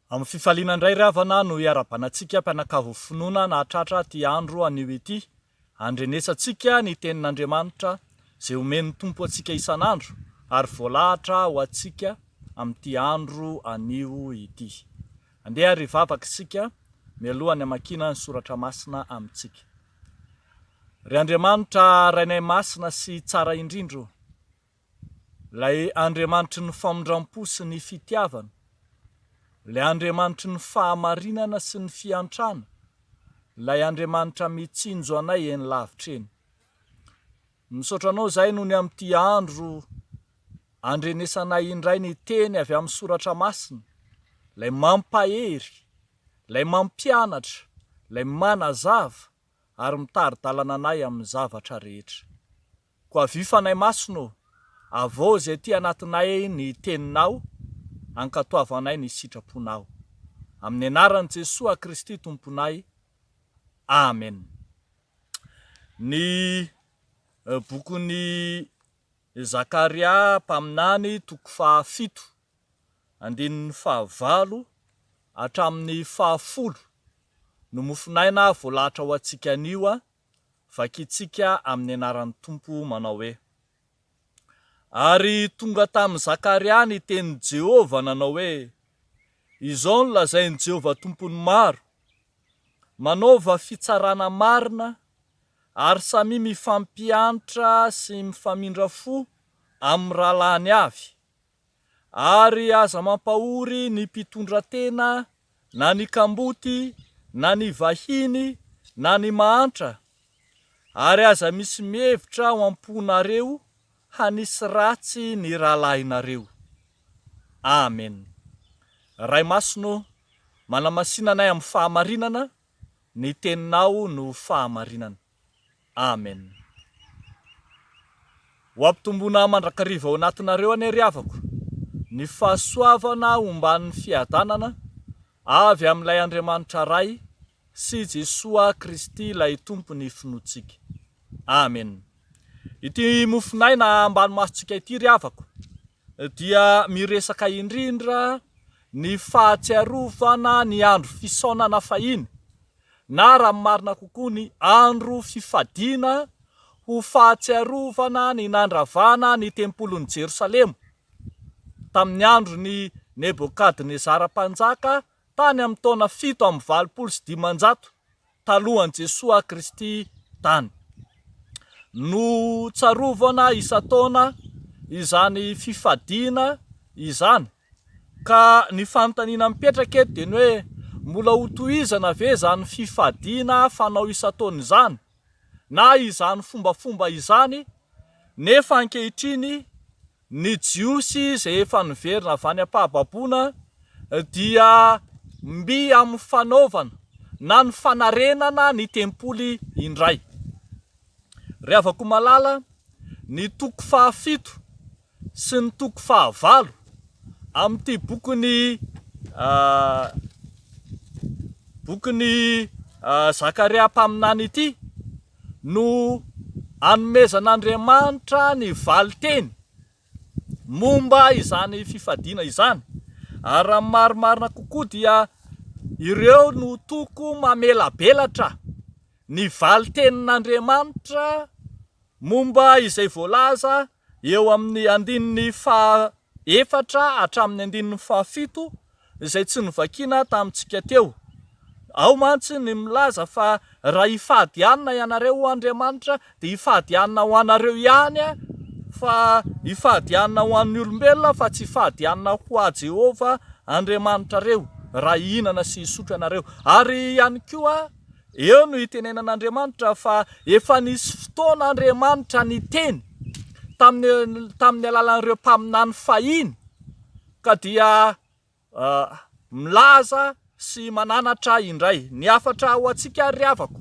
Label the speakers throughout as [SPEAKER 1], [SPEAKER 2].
[SPEAKER 1] Amin'ny fifaliana indray ry havana no hiara-banantsika mpianakavy finoana nahatratra ity andro anio ity. Andrenesantsika ny Tenin'Andriamanitra izay omen'ny Tompo antsika isan'andro ary voalahatra ho antsika amin'ity andro anio ity. Andeha àry hivavaka isika mialohan'ny hamakiana ny soratra masina amintsika. Ry Andriamanitra Rainay Masina sy Tsara indrindra ô! Ilay Andriamanitry ny famindram-po sy ny fitiavana, Ilay Andriamanitry ny fahamarinana sy ny fiantrana, Ilay Andriamanitra mitsinjo anay eny lavitra eny. Misaotra Anao izahay nony amin'ity andro andrenesanay indray ny teny avy amin'ny Soratra Masina, Ilay mampahery, Ilay mampianatra, Ilay manazava ary mitari-dalana anay amin'ny zavatra rehetra. Koa avia fanahy masina ô, avoaho izay aty anatinay ny teninao, ankatoavo anay ny sitraponao. Amin'ny anaran'i Jesoa Kristy Tomponay, Amen. Ny bokin'i Zakaria mpaminany toko faha fito, andininy faha valo hatramin'ny faha folo no mofonaina voalahatra ho antsika anio an, Vakintsika amin'ny anaran'ny Tompo manao hoe, Ary tonga tamin'i Zakaria ny tenin'i Jehovah nanao hoe, Izao no lazain'i Jehovah Tompon'ny maro, Manaova fitsarana marina, ary samia mifampihantra sy mifamindra fo amin'ny rahalahiny avy. ary aza mampahory ny mpitondratena na ny kamboty na ny vahiny na ny mahantra ary aza misy mihevitra ao am-ponareo hanisy ratsy ny rahalahinareo. Amen. Ray Masina ô, manamasina anay amin'ny fahamarinana, ny Teninao no fahamarinana. Amen. Ho ampitomboina mandrakariva ao anatinareo anie ry havako ny fahasoavana omban'ny fiadanana avy amin'ilay Andriamanitra Ray sy Jesoa Kristy ilay Tompon'ny finoantsika. Amen. Ity mofon'aina ambany masontsika ity ry havako. dia miresaka indrindra ny fahatsiarovana ny andro fisaonana fahiny na raha ny marina kokoa ny andro fifadiana ho fahatsiarovana ny nandravana ny tempolin'i Jerosalema tamin'ny andron'i Nebokadnezara Mpanjaka tany amin'ny taona fito amby valopolo sy dimanjato talohan'i Jesoa Kristy tany. Notsarovana isan-taona izany fifadiana izany ka ny fanontaniana mipetraka eto dia ny hoe mbola hotohizana ve izany fifadiana fanao isan-taona izany na izany fombafomba izany nefa ankehitriny Ny Jiosy izay efa niverina avy any am-pahababoana dia miha amin'ny fanaovana na ny fanarenana ny tempoly indray. Ry havako malala, ny toko fahafito sy ny toko fahavalo amin'ity bokin'ny bokin'i Zakaria mpaminany ity no anomezan'Andriamanitra ny valin-teny momba izany fifadiana izany, ary raha ny marimarina kokoa dia ireo no toko mamelabelatra ny valin-tenin'Andriamanitra momba izay voalaza eo amin'ny andininy faha efatra hatramin'ny andininy faha fito izay tsy novakiana tamintsika teo. Ao mantsy ny milaza fa raha hifady hanina ianareo ho andriamanitra dia hifady hanina ho anareo ihany an, fa hifady hanina ho an'ny olombelona fa tsy hifady hanina ho ahy Jehovah Andriamanitrareo raha hihinana sy hisotro ianareo. Ary ihany koa. Eo no itenenan'Andriamanitra fa efa nisy fotoana Andriamanitra niteny tamin'ny tamin'ny alalan'ireo mpaminany fahiny ka dia milaza sy mananatra indray. Ny hafatra ho antsika ry havako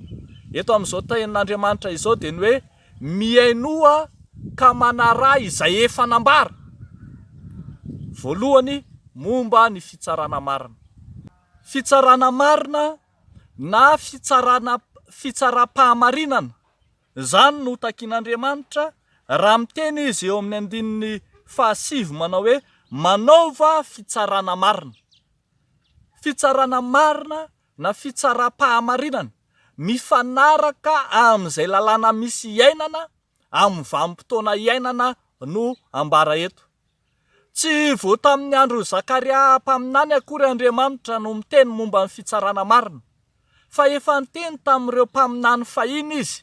[SPEAKER 1] eto amin'izao tenin'Andriamanitra izao dia ny hoe mihainoa ka manaraha izay efa nambara. Voalohany momba ny fitsarana marina. Fitsarana marina na fitsarana fitsaram-pahamarinana, izany no takian'Andriamanitra raha miteny Izy eo amin'ny andininy fahasivy manao hoe, Manaova fitsarana marina. Fitsarana marina na fitsaram-pahamarinana mifanaraka amin'izay lalàna misy iainana amin'ny vanim-potoana iainana no ambara eto. Tsy vao tamin'ny andron'i Zakaria mpaminany akory Andriamanitra no miteny momba ny fitsarana marina, fa efa niteny tamin'ireo mpaminany fahiny izy.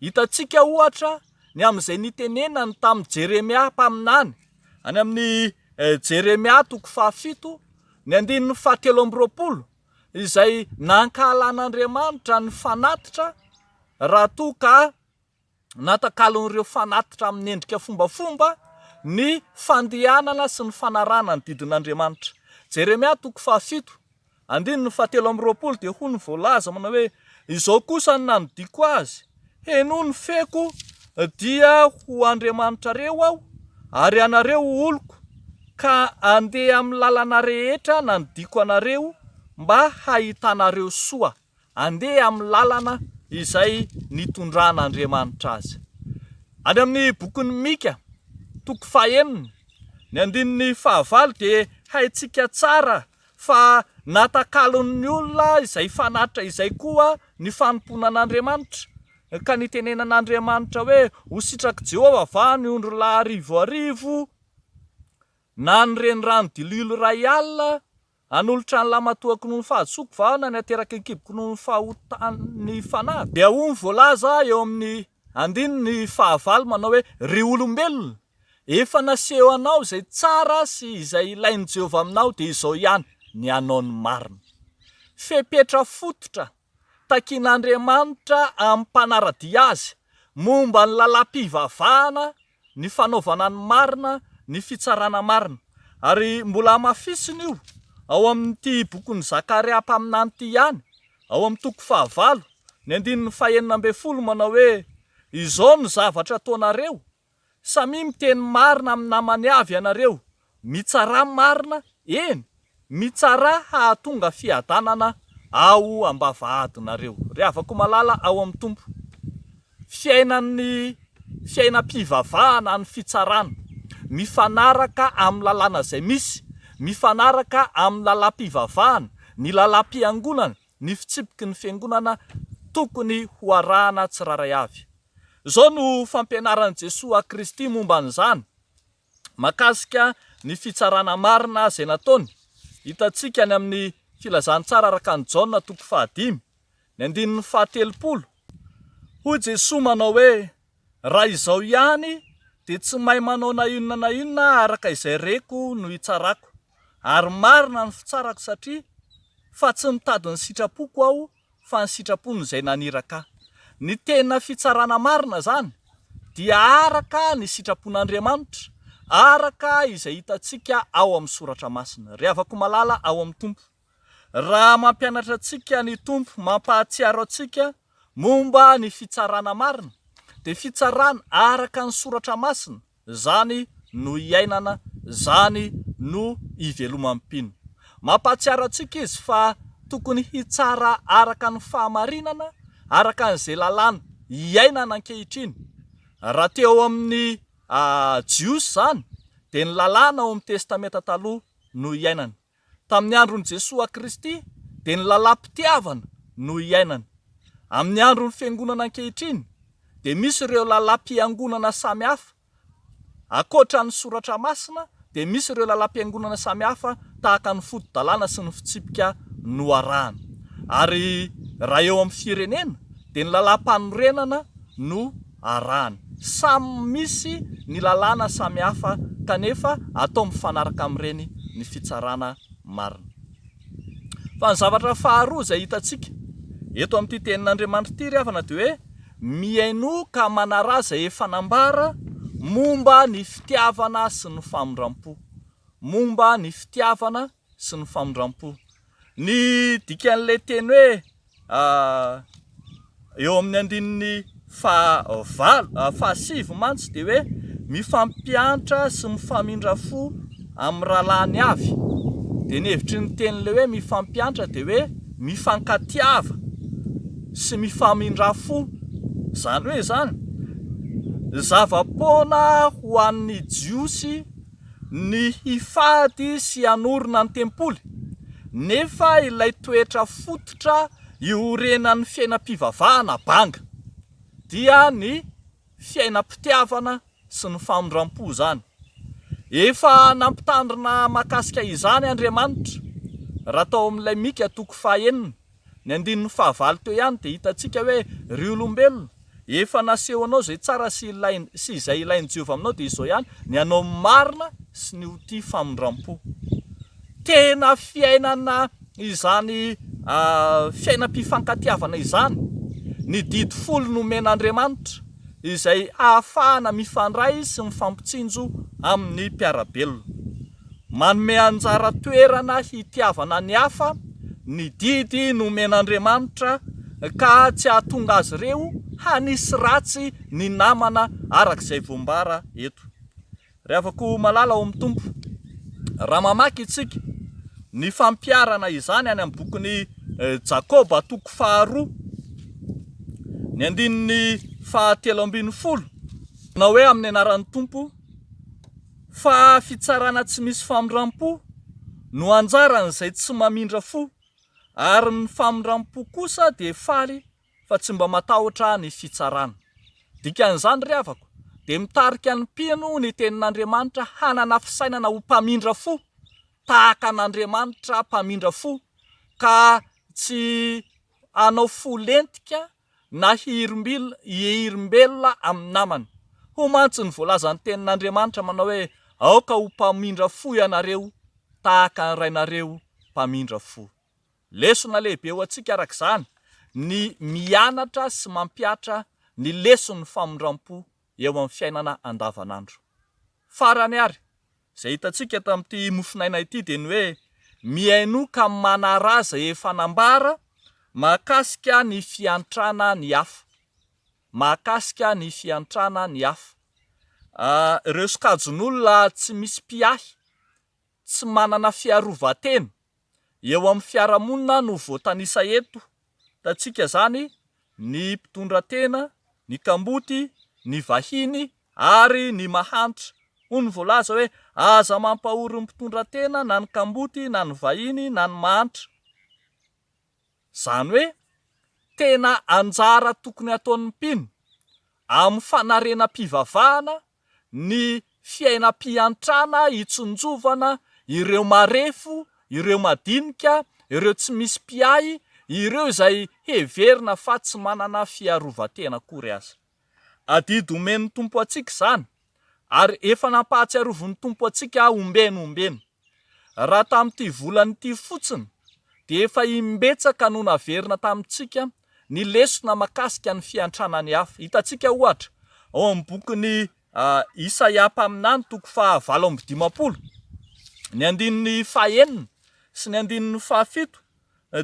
[SPEAKER 1] Hitantsika, ohatra, ny amin'izay nitenenany tamin'i Jeremia mpaminany, any amin'ny Jeremia toko fahafito, ny andininy fahatelo amby roapolo, izay nankahalan'Andriamanitra ny fanatitra raha toa ka natakalon'ireo fanatitra amin'ny endrika fombafomba ny fandehanana sy ny fanarahana ny didin'Andriamanitra. Jeremia toko fahafito, andininy fahatelo amby roapolo dia hoy ny voalaza manao hoe, Izao kosa ny nanodiako azy, Henoy ny feoko, dia ho Andriamanitrareo aho, ary ianareo ho oloko, ka andeha amin'ny lalana rehetra nanodiako anareo, mba hahitanareo soa. handeha amin'ny lalana izay nitondran'Andriamanitra azy. Any amin'ny bokin'i Mika, toko fahenina, ny andininy fahavalo dia haintsika tsara fa natakalon'ny olona izay fanatitra izay koa ny fanompoana an'Andriamanitra, ka nitenenan'Andriamanitra hoe, Ho sitrak'i Jehovah va ny ondrilahy arivo arivo, na ny renirano dililo iray alina, Hanolotra ny lamatoako noho ny fahadisoako va na ny hateraky ny kiboko noho ny fahotan'ny fanahy? Dia hoy ny voalaza eo amin'ny andininy fahavalo manao hoe, Ry olombelona, efa nasehonao izay tsara sy izay ilain'i Jehovah aminao, dia izao ihany ny hanao ny marina. Fepetra fototra takin'Andriamanitra amim-panara-dia azy momba ny lalam-pivavahana ny fanaovana ny marina, ny fitsarana marina. Ary mbola hamafisina io ao amin'ity bokin'i Zakaria mpaminany ity ihany, ao amin'ny toko fahavalo, ny andininy fahenina ambin'ny folo, manao hoe, Izao no zavatra ataonareo, Samia miteny marina amin'ny namany avy ianareo, Mitsarà marina, eny, mitsarà hahatonga fiadanana ao am-bavahadinareo, ry havako malala ao amin'ny Tompo. Fiainan'ny fiainam-pivavahana ny fitsarana, mifanaraka amin'ny lalàna izay misy, mifanaraka amin'ny lalam-pivavahana, ny lalam-piangonana, ny fitsipiky ny fiangonana tokony ho arahana tsirairay avy. Izao no fampianaran'i Jesoa Kristy momba an'izany, mahakasika ny fitsarana marina izay nataony, hitantsika any amin'ny Filazantsara araka an'i Jaona toko fahadimy, ny andininy fahatelopolo. Hoy Jesoa manao hoe, Raha izao ihany, dia tsy mahay manao na inona na inona araka izay reko no hitsarako. Ary marina ny fitsarako satria fa tsy mitady ny sitrapoko aho fa ny sitrapon'izay naniraka ahy. Ny tena fitsarana marina izany dia araka ny sitrapon'Andriamanitra, araka izay hitantsika ao amin'ny Soratra Masina. Ry havako malala ao amin'ny Tompo, raha mampianatra antsika ny Tompo, mampahatsiaro antsika momba ny fitsarana marina, dia fitsarana araka ny Soratra Masina, zany no iainana, zany no iveloman'ny mpino. Mampahatsiaro antsika izy fa tokony hitsara araka ny fahamarinana, araka an'izay lalàna iainana ankehitriny. Raha teo ao amin'ny Jiosy izany dia ny lalàna ao amin'ny Testamenta Taloha no iainana. Tamin'ny andron'i Jesoa Kristy dia ny lalam-pitiavana no iainana. Amin'ny andron'ny Fiangonana ankehitriny dia misy ireo lalam-piangonana samy hafa. Ankoatra ny Soratra Masina dia misy ireo lalam-piangonana samy hafa tahaka ny foto-dalàna sy ny fitsipika noarahana. Ary raha eo amin'ny firenena dia ny lalam-panorenana no. arahany. Samy misy ny lalàna samihafa kanefa atao mifanaraka amin'ireny ny fitsarana marina. Fa ny zavatra faharoa izay hitantsika eto amin'ity tenin'Andriamanitra ity ry havana dia hoe mihainoa ka manaraha izay efa nambara momba ny fitiavana sy ny famindram-po. Momba ny fitiavana sy ny famindram-po. Ny dikan'ilay teny hoe eo amin'ny andininy faha valo, faha sivy mantsy dia hoe mifampiantra sy mifamindra fo amin'ny rahalahiny avy. Dia ny hevitry ny tenin'ilay hoe mifampiantra dia hoe mifankatiava sy mifamindra fo. Izany hoe izany, zava-poana ho an'ny Jiosy. ny hifady sy hanorina ny tempoly, nefa ilay toetra fototra iorenan'ny fiainam-pivavahana banga, dia ny fiainam-pitiavana sy ny famindram-po izany. Efa nampitandrina mahakasika izany Andriamanitra, raha tao amin'ilay Mika toko fahenina, Ny andininy fahavalo teo ihany dia hitantsika hoe ry olombelona, efa nasehonao izay tsara sy ilainy sy izay ilain'i Jehovah aminao dia izao ihany, ny hanao ny marina sy ny ho tia famindram-po. Tena fiainana izany fiainam-pifankatiavana izany ny didy folo nomen'Andriamanitra, izay hahafahana mifandray sy mifampitsinjo amin'ny mpiara-belona. Manome anjara toerana hitiavana ny hafa ny didy nomen'Andriamanitra ka tsy hahatonga azy ireo hanisy ratsy ny namana araka izay voambara eto. Ry havako malala ao amin'ny Tompo, raha mamaky isika ny fampiharana izany any amin'ny bokin'i Jakoba toko faharoa, ny andininy fahatelo ambin'ny folo, manao hoe amin'ny anaran'ny Tompo, Fa fitsarana tsy misy famindram-po no anjaran'izay tsy mamindra fo, ary ny famindram-po kosa dia faly fa tsy mba matahotra ny fitsarana. Dikan'izany, ry havako, dia mitarika ny mpino ny Tenin'Andriamanitra hanana fisainana ho mpamindra fo, tahaka an'Andriamanitra mpamindra fo, ka tsy hanao fo lentika na hiherim-belona amin'ny namany. Hoy mantsy ny voalazan'ny Tenin'Andriamanitra manao hoe, Aoka ho mpamindra fo ianareo tahaka ny Rainareo mpamindra fo. Lesona lehibe ho antsika araka izany ny mianatra sy mampihatra ny leson'ny famindram-po eo amin'ny fiainana andavanandro. Farany àry, Izay hitantsika tamin'ity mofonaina ity dia ny hoe mihainoa ka manaraha izay efa nambara mahakasika ny fiantrana ny hafa. Mahakasika ny fiantrana ny hafa. Ireo sokajin'olona tsy misy mpiahy, tsy manana fiarovan-tena. eo amin'ny fiarahamonina no voatanisa eto, hitantsika izany ny mpitondra tena, ny kamboty, ny vahiny ary ny mahantra, hoy ny voalaza hoe aza mampahory ny mpitondra tena na ny kamboty na ny vahiny na ny mahantra, izany hoe tena anjara tokony ataon'ny mpino amin'ny fanarenam-pivavahana ny fiainam-piantrana hitsinjovana ireo marefo, ireo madinika, ireo tsy misy mpiahy, ireo izay heverina fa tsy manana fiarovan-tena akory aza. Adidy omen'ny Tompo antsika izany, ary efa nampahatsiarovin'ny Tompo antsika ombeny ombeny. Raha tamin'ity volana ity fotsiny dia efa imbetsaka no naverina tamintsika ny lesona makasika ny fiantrana ny hafa. Hitantsika ohatra ao amin'ny bokin'i Isaia mpaminany toko faha valo amby dimampolo, ny andininy faha enina sy ny andininy faha fito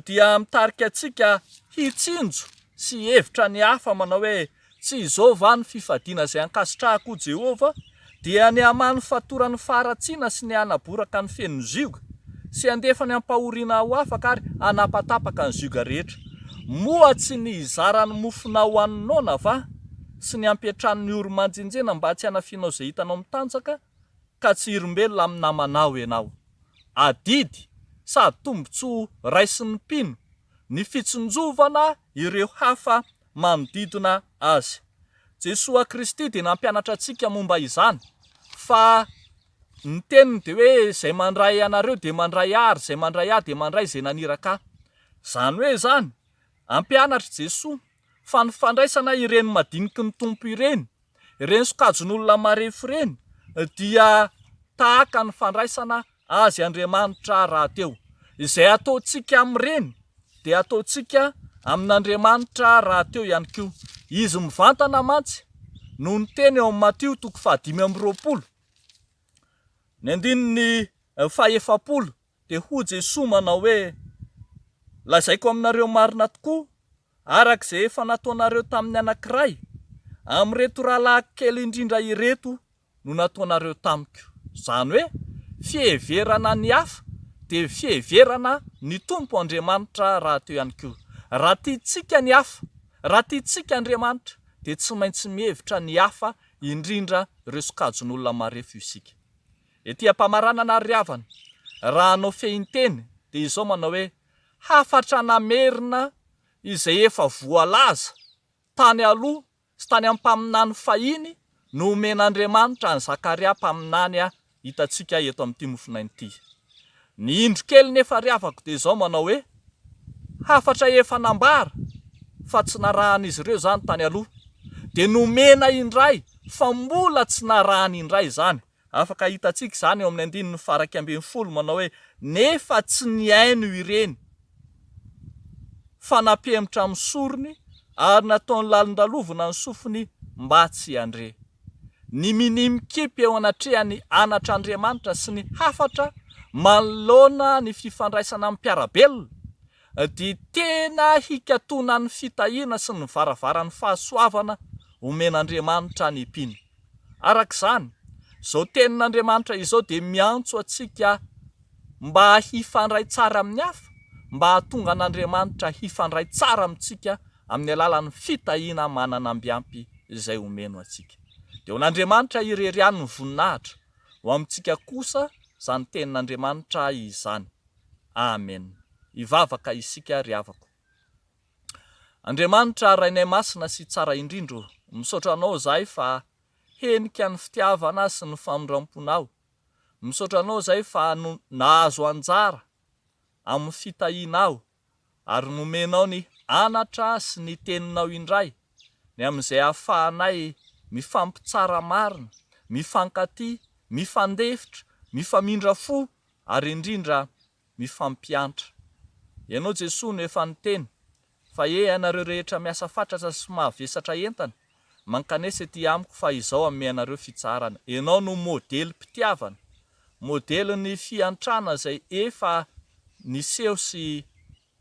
[SPEAKER 1] dia mitarika antsika hitsinjo sy hihevitra ny hafa manao hoe, Tsy izao va ny fifadiana izay ankasitrahako, hoy Jehovah, dia ny hamaha ny fatoran'ny faharatsiana sy ny hanaboraka ny fenon'ny zioga, sy handefa ny ampahoriana ho afaka ary hanapatapaka ny zioga rehetra? Moa tsy ny hizarany mofonao ho an'ny noana va, sy ny hampiantrano ny oro-manjenjena mba tsy hanafianao izay hitanao mitanjaka, ka tsy hirimbelona amin'ny namanao ianao? adidy sady tombontsoa raisin'ny mpino ny fitsinjovana ireo hafa manodidina azy. Jesoa Kristy dia nampianatra antsika momba izany fa ny teniny dia hoe izay mandray anareo dia mandray ahy ary izay mandray ahy dia mandray izay naniraka ahy. Izany hoe izany, ampianatr'i Jesoa fa ny fandraisana ireny madiniky ny Tompo ireny Ireny sokajin'olona marefo ireny dia tahaka ny fandraisana azy Andriamanitra rahateo. Izay ataontsika amin'ireny dia ataontsika amin'Andriamanitra rahateo ihany koa. Izy mivantana mantsy no niteny ao amin'ny Matio toko fahadimy amby roapolo, ny andininy fahefapolo dia hoy Jesoa manao hoe, Lazaiko aminareo marina tokoa, Araka izay efa nataonareo tamin'ny anankiray amin'ireto rahalahiko kely indrindra ireto no nataonareo tamiko, izany hoe fiheverana ny hafa dia fiheverana ny Tompo Andriamanitra rahateo ihany koa. Raha tiantsika ny hafa, raha tiantsika Andriamanitra dia tsy maintsy mihevitra ny hafa indrindra ireo sokajin'olona marefo isika. Ety am-pamaranana ary ry havana, raha hanao fehinteny dia izao manao hoe, hafatra namerina izay efa voalaza tany aloha sy tany amin'ny mpaminany fahiny no omen'Andriamanitra an'i Zakaria mpaminany ahy hitantsika eto amin'ity mofonaina ity. Ny indro kely nefa ry havako dia izao manao hoe, hafatra efa nambara fa tsy narahan'izy ireo izany tany aloha dia nomena indray fa mbola tsy narahany indray izany Afaka hitantsika izany eo amin'ny andininy faharaika ambin'ny folo manao hoe, Nefa tsy nihaino ireny fanapemitra amin'ny sorony ary nataony lalindalovina ny sofiny mba tsy handre. Ny minia mikipy eo anatrehan'ny anatr'Andriamanitra sy ny hafatra manoloana ny fifandraisana amin'ny mpiara-belona dia tena hikatonan'ny fitahiana sy ny varavaran'ny fahasoavana omen'Andriamanitra ny mpino. Araka izany, izao Tenin'Andriamanitra izao dia miantso antsika mba hifandray tsara amin'ny hafa, mba hahatonga an'Andriamanitra hifandray tsara amintsika amin'ny alalan'ny fitahiana mananamby ampy izay omeny ho antsika. Dia ho an'Andriamanitra irery ihany ny voninahitra, ho amintsika kosa izany Tenin'Andriamanitra izany. Amena. Hivavaka isika ry havako. Andriamanitra Rainay Masina sy Tsara indrindra o! Misaotra Anao izahay fa henika ny fitiavana sy ny famindram-ponao, misaotra Anao izay fa nahazo anjara amin'ny fitahianao ary nomenao ny Anatra sy ny Teninao indray ny amin'izay ahafahanay mifampitsara marina, mifankatia, mifandefitra, mifamindra fo ary indrindra mifampiantra. Ianao Jesoa no efa niteny fa ee anareo rehetra miasa fatratra sy mavesatra entana, mankanesa ety amiko fa izao hanome anareo fitsaharana. Ianao no modelim-pitiavana, modelin'ny fiantrana izay efa niseho sy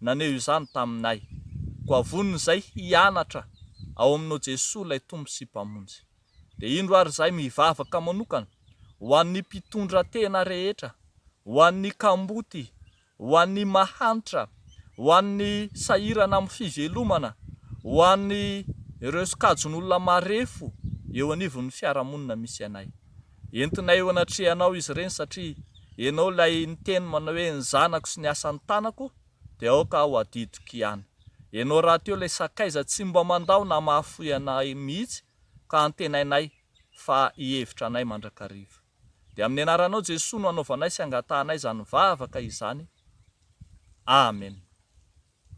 [SPEAKER 1] naneho izany taminay. Koa vonona izahay hianatra ao aminao Jesoa ilay Tompo sy Mpamonjy. Dia indro ary izahay mivavaka manokana ho an'ny mpitondratena rehetra, ho an'ny kamboty, ho an'ny mahantra, ho an'ny sahirana amin'ny fivelomana, ho an'ireo sokajin'olona marefo eo anivon'ny fiarahamonina misy anay. Entinay eo anatrehanao izy ireny satria ianao ilay niteny manao hoe ny zanako sy ny asan'ny tanako dia aoka aho hadidiko ihany. Ianao rahateo ilay sakaiza tsy mba mandao na mahafoy anay mihitsy ka antenainay fa hihevitra anay mandrakariva. Dia amin'ny anaranao Jesoa no anaovanay sy angatahanay izany vavaka izany. Amen.